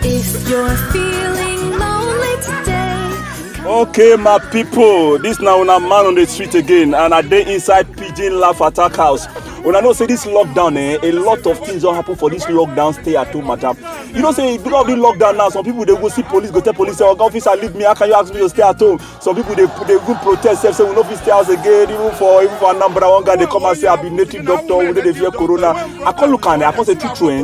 If you're feeling lonely today, Okay, my people, this now una man on the street again, and I dey inside Pigeon Laugh Attack House. Una know say this lockdown, eh, a lot of things don happen for this lockdown stay at home matter. You know say because of the lockdown now, some people dey go see police, go tell police say, oga officer leave me, how can you ask me to stay at home? some people dey dey even protest sef say we no fit stay house again even for even for anambra one guy dey come and say i be native doctor we no dey fear corona i come look am i come say true true eh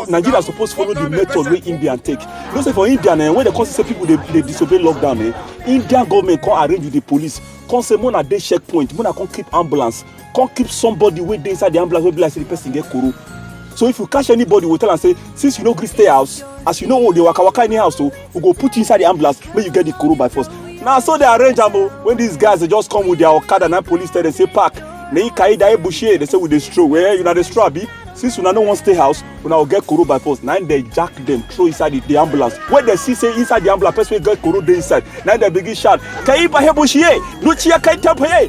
nigeria suppose follow the method wey indian take you know say for india eh when dem come see say people dey dey disobey lockdown eh indian government come arrange with the police come say make una dey checkpoint make una come keep ambulance come keep somebody wey dey inside the ambulance wey be like say the person get koro so if you catch anybody we tell am say since you no gree stay house as you no wan dey waka waka anyhow so we go put you inside the ambulance make you get the koro by force na so they arrange am o when these guys dey just come with their okada na police tell them say park na him carry daye bushe they say we dey stroll well una dey stroll abi since una no wan stay house una go get koro by force na him dey jack them throw inside the, the ambulance when they see say inside the ambulance person wey get koro dey inside na him dey begin shout kayi bahe bushe lucia kayi tapaye